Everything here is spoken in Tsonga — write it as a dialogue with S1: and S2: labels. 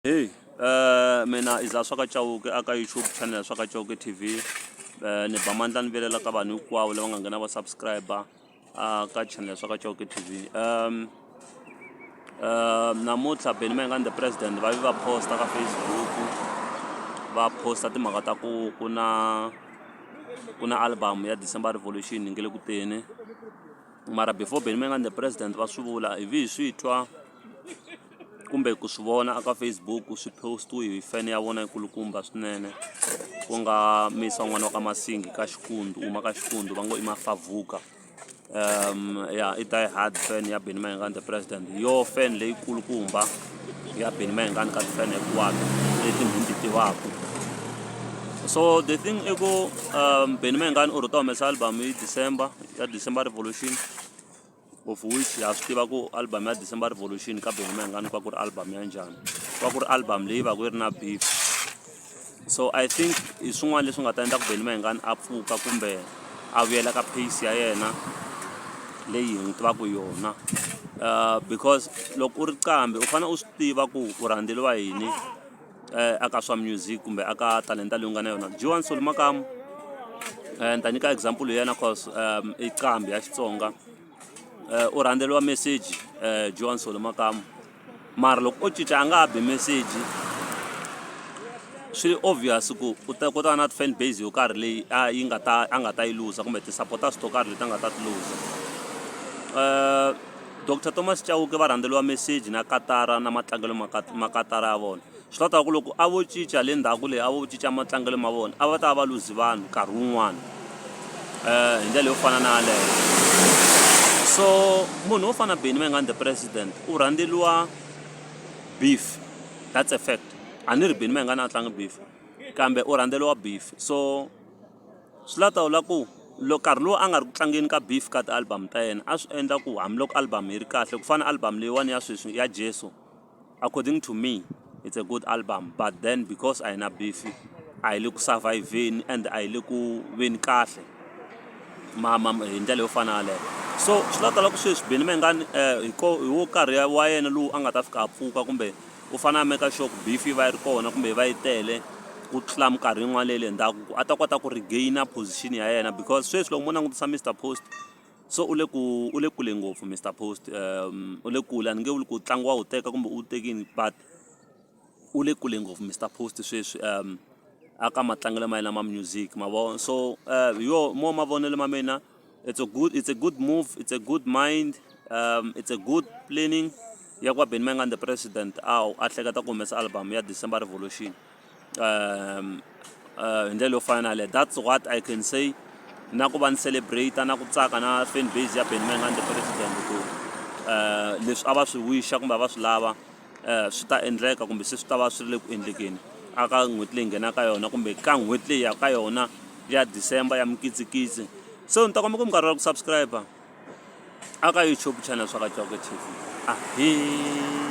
S1: Heyi mina Iza swa ka Chauke a ka YouTube channel swa ka Chauke TV ni ba mandla ni vilela ka vanhu hinkwavo lava nga nghena va subscriber a ka channel swa ka Chauke TV um namuntlha Benny Mayengani the president va vi va posta ka Facebook va posta timhaka ta ku ku na ku na album ya December Revolution yi nge le ku teni mara before Benny Mayengani the president va swi vula hi vi hi swi twa kumbe ku swi vona a ka Facebook swi post-iwe hi fan ya vona yi kulukumba swinene ku nga misa n'wana wa ka Masingi ka Xikundu uma ka Xikundu va ngo i Mafavuka um ya i die hard fan ya Benny Mayengani the president yo fan leyi kulukumba ya Benny Mayengani ka ti-fan hinkwato leti ni ti tivaka so the thing i ku um Benny Mayengani u rheta humesa album hi December ya December Revolution of which ha swi tiva ku album ya december revolution ka bengoma yingani ku va ku ri album ya njhani ku va ku ri album leyi va ku yi ri na beef so i think hi swin'wana leswi nga ta endla ku bengoma yingani a pfuka kumbe a vuyela ka pace ya yena leyi hi n'wi tivaka yona um because loko u ri qambi u fanele u swi tiva ku u rhandzeriwa yini eh, aka swa music kumbe aka talenta leyi u nga na yona joan soli makamu um ni ta nyika example ya yena cause um i qambi ya xitsonga um u rhandzeriwa message um joan soli makamu mara loko o cinca a nga ha bi message swi obvious ku u ta kota na fan base yo karhi leyi a yi nga ta a nga ta yi luza kumbe ti-supporters to karhi leti a nga ta ti luza um Doctor Thomas Chauke va rhandzeliwa meseji na katara na matlangelo ma ka ma katara ya vona swi ta ta ku loko a vo cinca le ndhaku leyi a vo cinca matlangelo ma vona a va ta va luzi vanhu nkarhi wun'wana um hi ndlela yo fana na yaleyo so munhu wo fana beni mangani the president u rhandzeliwa beef that's a fact a ni ri beni mangani a tlangi beef kambe u rhandzeliwa beef so Swi la ta vula ku loko nkarhi lowu a nga ri ku tlangeni ka beef ka ti-album ta yena a swi endla ku hambiloko album yi ri kahle ku fana album leyiwani ya sweswi ya jesu according to me it's a good album but then because a yi na beef a yi le ku survive-vheni and a yi le ku veni kahle ma ma hi ndlela yo fana yaleyo so swi la ta la ku sweswi benny mayengani hi ko hi wo karhi wa yena lowu a nga ta fika a pfuka kumbe u fane a make sure ku beef yi va yi ri kona kumbe yi va yi tele ku tlula minkarhi yin'wana leyi le ndzhaku ku a ta kota ku regainer position ya yena because sweswi loko mo langutisa Mister Post so u le ku u le kule ngopfu Mister Post um u le kule a ni nge vuli ku ntlangu wa wu teka kumbe u wu tekini but u le kule ngopfu Mister Post sweswi um a ka matlangelo ma yena ma music ma vo so hi yo mo mavonelo ma mina. It's a good, it's a good move, it's a good mind, um, it's a good planning ya kwa Benny Mayengani the president aw a hleketa ku humesa album ya December Revolution um, uh, hi ndlela yo fana na that's what I can say na ku va ni celebrate na ku tsaka na fan base ya Benny Mayengani the president ku uh, leswi a va swi wisha kumbe a va swi lava um swi ta endleka kumbe se swi ta va swi ri le ku endlekeni a ka n'hweti leyi nghenaka ka yona kumbe ka n'hweti leyi ya ka yona ya december ya mikitsikitsi so ni ta kombeka minkarhi wa ku subscribe a ka youtube channel swa ka tv a hi